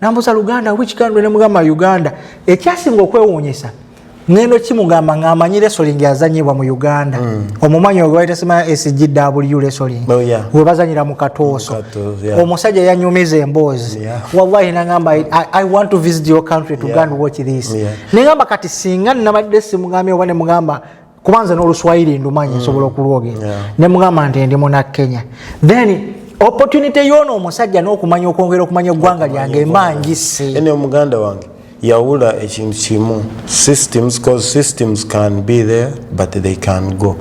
nambuza luganda which country nemugamba uganda ekyasinga okwewuunyisa ngendo kimugamba ngamanyi lesoling azanyibwa mu uganda mm. omumanyi ogwaitasima sgw lesoling oh, yeah. webazanyira mu katooso yeah. omusajja yanyumiza emboozi yeah. wallahi nagamba I, i want to visit your country to yeah. go and watch this yeah. nengamba kati singa nabadde simugambye oba nemugamba kuba nze n'oluswayiri ndumanyi mm. nsobola okulwogera ne mugamba nti ndi muna kenya then opportunity yoono omusajja n'okumanya okwongera okumanya eggwanga lyange emangise ene omuganda wange yawula ekintu kimu systems cause systems can be there but they can go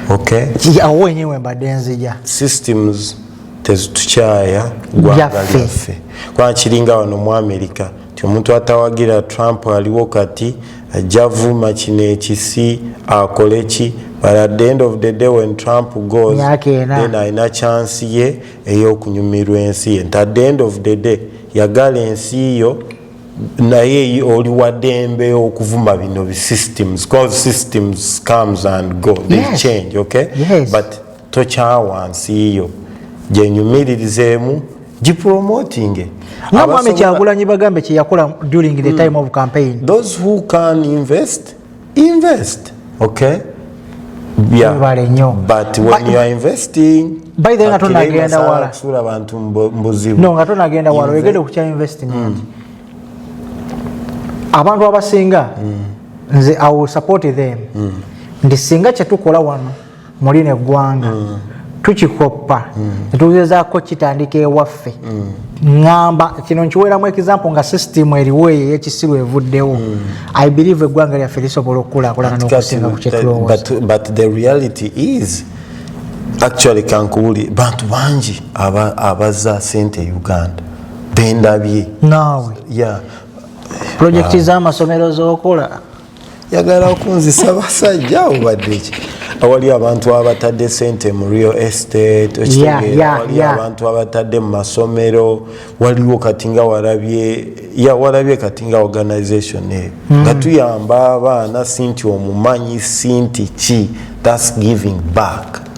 okay awo wenyewe mbadde nzija systems tezitukyaaya gwanga lyaffe kuba kiringa wano mu amerika nti omuntu atawagira trump aliwo kati ajja vuma kino ekisi akole ki but at the end of the day when trump goes then alina chance ye eyokunyumirwa ensi ye nti at the end of the day yagala ensi yo naye oli wadembe okuvuma bino bisystems cause systems comes and go they yes. change okay yes. but tokyawa nsi yo gyenyumiririzeemu gipromotinge namwami kyagulanyi bagambe kyeyakola during the hmm. time of campaign those who can invest invest okay bale nyo but when you are investing by the way ngato nagenda wala kusula abantu mbuzibu no ngato nagenda wala wegede kucha investing mm. abantu abasinga mm. nze i will support them mm. ndisinga chetukola wano mu lino eggwanga mm. tukikoppa mm. netugezaako kitandika ewaffe mm. ŋamba kino nkiweeramu ekizampo nga sisitimu eriwo eyo eyekisiru evuddewo i believe eggwanga lyaffe lisobola okukulakulana nokusinga kukyetulowooza actually kankuwuli bantu bangi abaza sente e uganda bendabye naawe yeah. projekiti uh, z'amasomero z'okola yagala okunzisa basajja obadde ki awali abantu abatadde sente mu real estate okitegeerawali abantu abatadde mu masomero waliwo kati nga walabye ya walabye kati nga organization eyo hmm. nga tuyamba abaana sinti omumanyi sinti ki thats giving back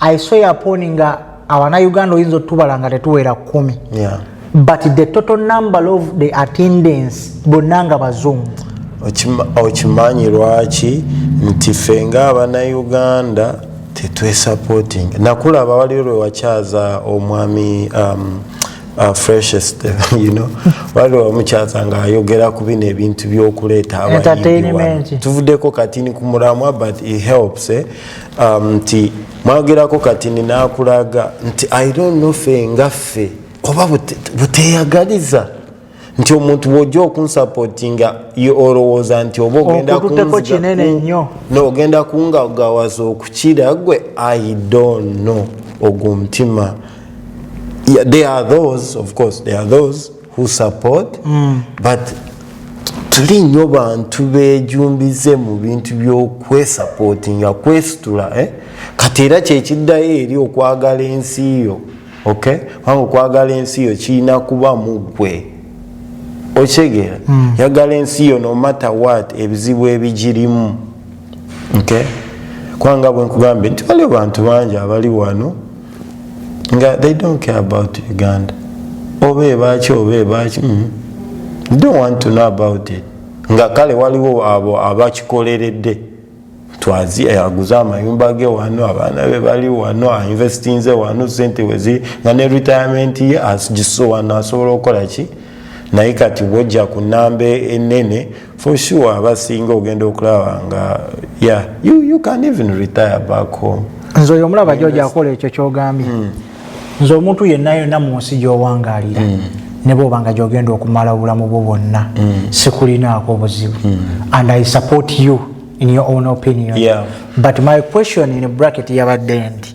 I saw your phone nga awana Uganda oyinza otubala nga tetuwera kumi. Yeah. But the total number of the attendance bonanga bazungu. Okimanyi lwaki nti fe nga abana Uganda tetwe supporting. Nakula abawali lwe wachaza omwami um, uh, freshest you know wali wamukyaza nga ayogera ku bino ebintu byokuleeta abatuvudeko katini ku mulamwa but it helps eh? um, nti mwagerako kati ninakulaga nti i don't know fe nga ffe oba buteyagaliza bute nti omuntu bwojja okunsapotinga olowooza nti oba ogenda kungagawaza okukira gwe i don't know ogwo omutima yeah, they are those of course they are those who support mm. but tuli nyo bantu bejumbize mu bintu byokwesapotinga kwesitula eh? kati era kyekiddayo eri okwagala ensi yo okay? kubanga okwagala ensi yo kirina kuba mugwe okitegeera mm. yagala ensi yo nomatter wat ebizibu ebigirimu okay? kubanga bwenkugambye nti waliwo bantu bangi abali wano nga they don't care about uganda oba ebaki oba ebaki mm. don't want to know about it nga kale waliwo abo abakikoleredde twazi eh, aguze amayumba ge wano abaana be bali wano ainvestinze wano sente weziri nga ne retirement ye agiso wano asobola okukola ki naye kati bwojja ku namba enene for sure abasinga ogenda okulaba nga yeah you, you can even retire back home nze oyo omulaba joja akola ekyo kyogambye mm. nze omuntu yenna yonna mu nsi gy'owangaalira mm. ne bwoba nga gyogenda okumala obulamu bwo bwonna mm. sikulinaako obuzibu mm. and i support you in your own opinion yeah. but my question in bracket yabadde nti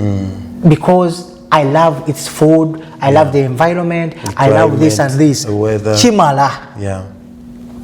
mm. because i love its food i yeah. love the environment the i love this and this kimala yeah.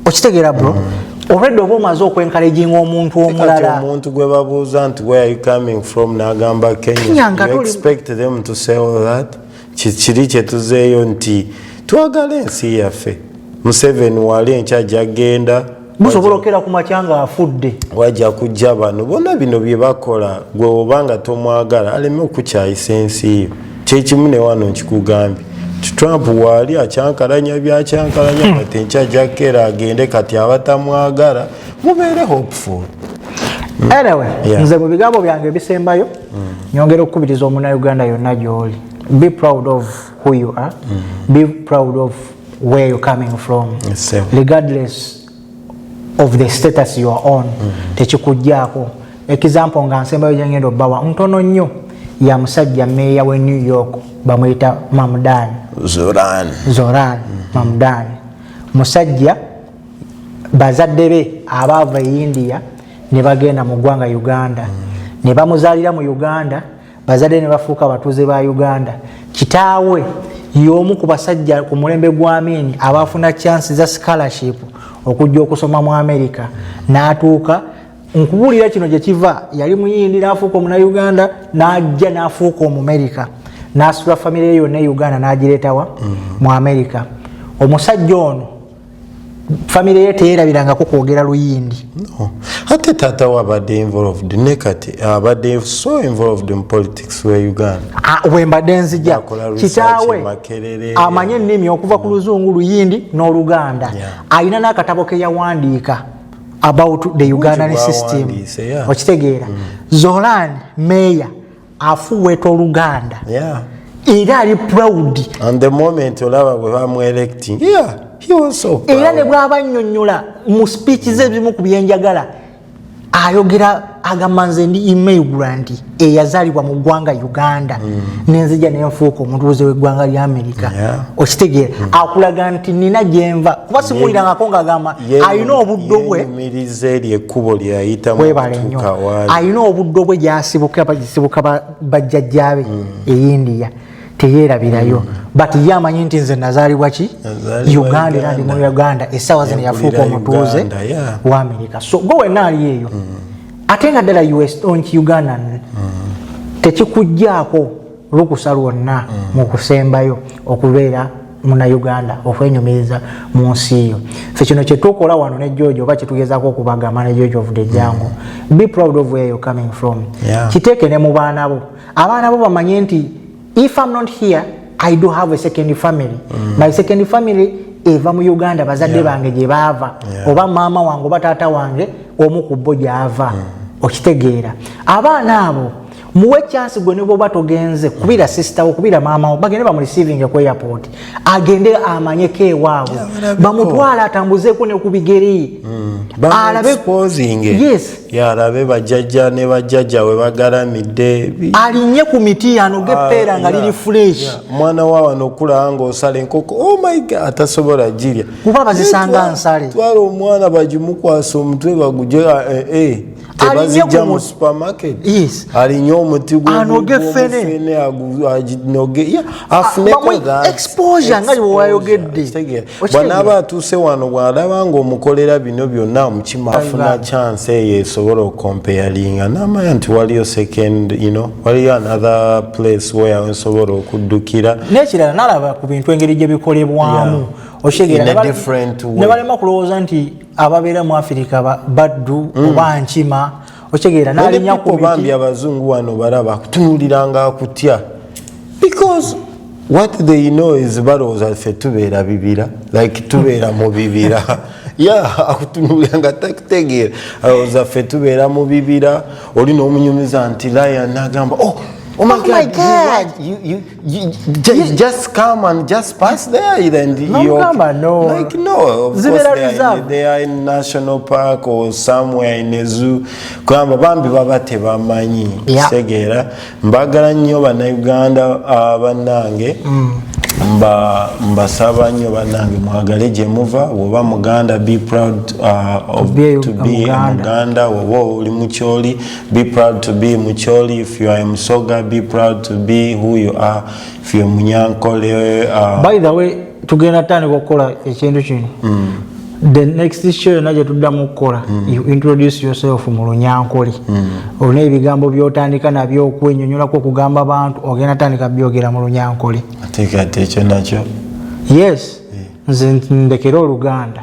okitegera bro mm. already oba omaze okwenkaleginga omuntu omulala omuntu gwe babuuza nti where are you coming from nagamba kenya, kenya you expect them to say all that kikiri kyetuzeeyo nti twagala ensi yaffe museveni wali enkya jagenda musobola okera ku makya nga afudde wajja kujja bano bona bino byebakola gwe oba nga tomwagala aleme okukyayisa ensi yo kyekimu newano nkikugambye trump waali akyankalanya byakyankalanya hmm. kati enkya jakera agende kati abatamwagala mubeere hopeful anyway nze mu bigambo byange ebisembayo nyongera okukubiriza omunauganda yonna gyoli be proud of who you are mm -hmm. be proud of where you're coming from yes, regardless of the status you are on mm -hmm. tekikujjaako example nga nsembayo gyengenda obawa ntono nnyo ya musajja meeya we new york bamuyita mamdan zoran, zoran. Mm -hmm. mamdan musajja bazadde be abaava e india ne bagenda mu ggwanga uganda mm. ne bamuzaalira mu uganda bazadde ne bafuuka abatuuze ba uganda kitaawe y'omu ku basajja ku mulembe gwa miini abaafuna chansi za scholarship okujja okusoma mu amerika n'atuuka nkubuulira kino gye kiva yali muyindi n'afuuka omunauganda n'ajja n'afuuka omumerika n'asula famire ye yonna e uganda n'agireetawa mm. mu amerika omusajja ono famire ye teyerabirangako kwogera luyindi ate taata we abadde involved ne kati abadde so involved mu politics we uganda ah, wembadde nzija kitaawe amanye ennimi okuva ku luzungu luyindi n'oluganda alina n'akatabo ke yawandiika about the ugandan system okitegeera mm. zolan meya afuweta oluganda yeah. era ali proud and the moment olaba bwe bamuelecting yeah, he was so proud. era ne bwaba annyonnyola mu speech ze ebimu ku byenjagala ayogera agamba nze ndi immigrant eyazalibwa mu ggwanga uganda mm. nenzija nenfuuka omutuuze w'eggwanga lya amerika yeah. okitegeera mm. akulaga nti nina gyenva kuba simuwulirangako ngaagamba alina obuddo bwe miriza eryo ekkubo lyeyayitamu webale nnyo alina obuddo bwe gyasibukasibuka bajjajjaabe hmm. eyindiya teyerabirayo hmm. but ye amanyi nti nze nazaalibwa ki uganda era ndi mu uganda essaawa zino yafuuka omutuuze wa amerika so gwe wenna ali eyo hmm. ate nga ddala us onki uganda tekikugjaako lukusa lwonna mm. mu kusembayo okubeera munauganda okwenyumiriza mu nsi yo fe kino kyetukola wano ne george oba kyetugezako okubagamba ne george of the jango mm. be proud of where you're coming from yeah. kiteeke ne mu baana bo abaana bo bamanye nti if am not here i do have a second family mm. my second family eva mu uganda bazadde yeah. bange gye baava yeah. oba maama wange oba taata wange omu ku bo gyava mm. okitegeera abaana abo muwe chance gwe neboba togenze kubira sister wo kubira mama wo bagende bamu receiving ku airport agende amanye ke wawo bamutwala atambuze ko ne kubigeri mm. alabe exposing yes ya alabe bajajja ne bajajja we bagara midde alinye ku miti ano ge ah, pera nga lili fresh yeah. mwana wawa no kula ngo sale nkoko oh my god atasobola jiria kuba bazisanga nsale twalo mwana bajimukwasa omutwe baguje eh, eh. tebazijja mu supermarket alinye omuti gwanoge fene aginoge afuneko exposure nga wewayogedde bwanaaba atuuse wano bwalaba nga omukolera bino byonna mukima afuna chance eyo esobola okompeyalinga namanya nti waliyo second you know waliyo another place where nsobola okuddukira nekirala nalaba ku bintu engeri gye bikolebwamu okitegera nebalema kulowooza nti ababeera mu afirika baddu mm. oba nkima okitegeera nalinya kubambi abazungu wano balaba kutunuliranga akutya because what they know is balowooza ffe tubeera bibira like tubeera mu bibira ya akutunulira nga takutegeera alowooza ffe tubeera mu bibira oli n'omunyumiza nti lion nagamba oh, oh my oh god, my god. You, you, just come and just pass there and no, you're, come on, no. like no of Zibera course they are, in, they are in national park or somewhere in a zoo kwamba bambi baba tebamanyi yeah. segera mbagala nnyo bannayuganda uh, bannange mm. mba mbasaba nnyo bannange mwagale gye muva woba muganda be proud uh, of, to be muganda woba oli mukyoli Be proud to be Mucholi if you are a Musoga. Be proud to be who you are if you are Munyankole. Uh... By the way, tugenda tandika okukola ekintu kino mm. the next show yona gyetuddamu okukola mm. you introduce yourself mu lunyankole mm. olina ebigambo byotandika nabyo okwenyonyolako okugamba abantu ogenda tandika byogera mu lunyankole ekyo nakyo yes nze ndekere oluganda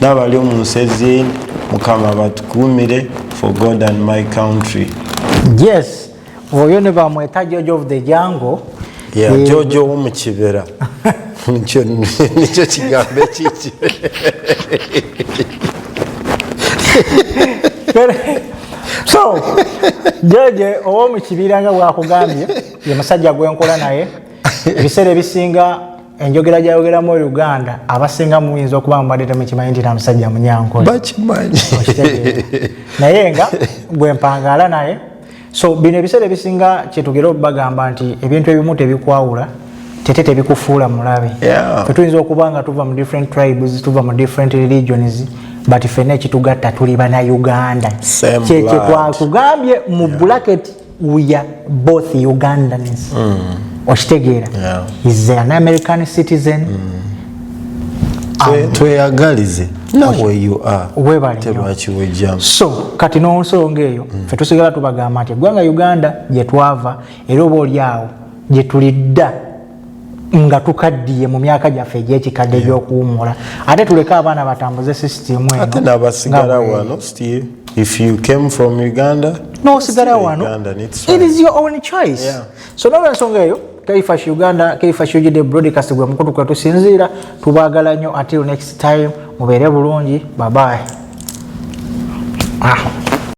nabali omunsezi mukama batukumire for god and my country yes oyo ne bamweta jojo of the jango yeah, e... jojo womukibera nikyo kigambo ekiki so jeje owomukibira nga bwakugambye ye musajja gwenkola naye ebiseera ebisinga enjogera gyayogeramu oluganda abasinga muyinza okuba mubadde temukimanyi nti namusajja munyankolebakimanyi naye nga gwempangaala naye so bino ebiseera ebisinga kyetugera okubagamba nti ebintu ebimu tebikwawula tete tebikufuula mulabe fetuyinza okuba nga tuva mu different tribes tuva mu different religions but fena ekitugatta tuli banauganda kyekyetwakugambye mu bulaketi we are both ugandans mm. okitegeera yeah. is an american citizen mm. Um, tweyagalize webaletebakiwejjamu so kati n'onsonga eyo mm. fe tusigala tubagamba nti eggwanga uganda gyetwava era oba oli awo gyetulidda nga tukaddiye mu myaka gyaffe egyekikadde egyokuwummula ate tuleke abaana batambuze sisitimu ate nabasigala wano still if you came from uganda nosigala wano it is your own choice yeah. so nolwensonga eyo kaifash uganda kaifash ugd broadcast gwe mukutu kwetusinziira tubagala nnyo until next time mubeere bulungi babaye ah.